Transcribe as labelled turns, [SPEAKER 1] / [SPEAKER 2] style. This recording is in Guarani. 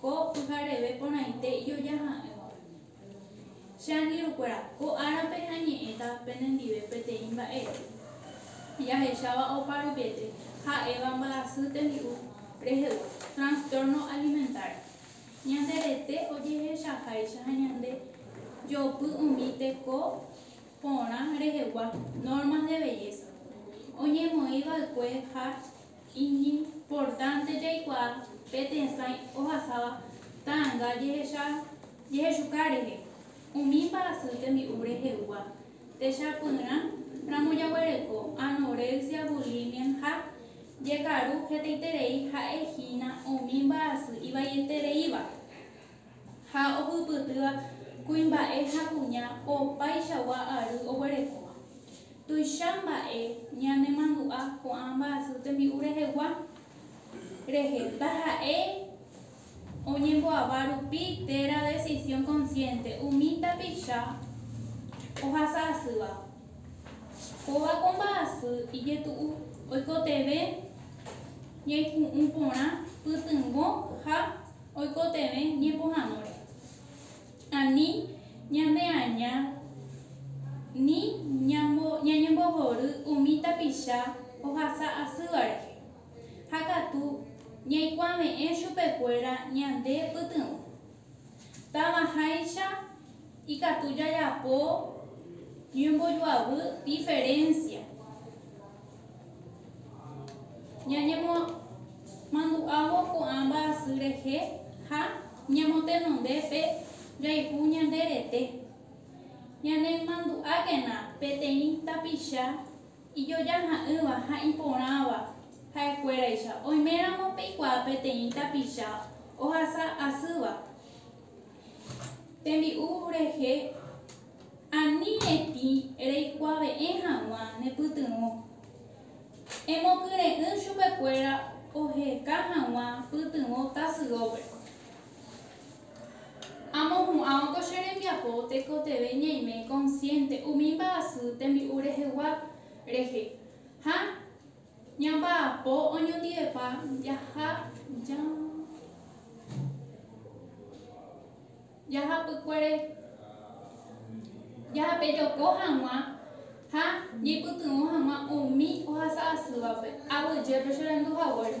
[SPEAKER 1] Ko pyhareve porãite ijoja ha'ỹva. Che angirũkuéra, ko árape añe'ẽta penendive peteĩ mba'e jahecháva oparupiete ha'éva mbyasy tembi'u rehegua, trastorno alimentario. Ñande rete ojehechaháicha ha ñande jopy umi teko porã rehegua normas de belleza, oñemoĩ va'ekue ha Iñimportánte jaikuaa pe tesãi ohasáva ta'anga jehecha jehechuka rehe. Umi mba'asy tembi'u rehegua techapyrã ramo jaguereko anorexia, bulimia ha jekaru hetaiterei ha'e hína umi mba'asy ivaietereíva. Ha ohupytýva kuimba'e ha kuña opaichagua ary oguerekóva. Tuicha mba'e ñanemandu'a ko'ã mba'asy tembi'u rehegua rehe taha'e oñemboava rupi térã decisión consciente umi tapicha ohasa asýva. Kóva ko mba'asy ijetu'u oikotevẽ ñaiku'ũ porã pytyvõ ha Oikotevẽ ñepohãnóre. Ani ñaneaña ni ñañembohory umi tapicha ohasa asýva rehe, ha katu ñaikuave'ẽ chupekuéra ñande pytyvõ. Távaháicha ikatu jajapo ñembojoavy diferénsia. Ñañemomandu'ávo ko'ã mba'asy rehe ha ñamotenonde pe jayhu ñande rete. Ñanemandu'ákena peteĩ tapicha ijojaha'ỹva ha iporãva ha'ekuéraicha. Oiméramo peikuaa peteĩ tapicha ohasa asýva tembi'u rehe, Ani retĩ reikuave'ẽ hag̃ua ne pytyvõ, emokyre'ỹ chupekuéra oheka hag̃ua pytyvõ tasyópe. Amohu'ãvo ko che rembiapo tekotevẽ ñaime konsiénte umi mba'asy tembi'u rehegua rehe ha ñamba'apo oñondivepa jaha jave. jahapykuere jahapejoko hag̃ua ha jeipytyvõ hag̃ua umi ohasa asývape. Aguyjépe cherendu haguére.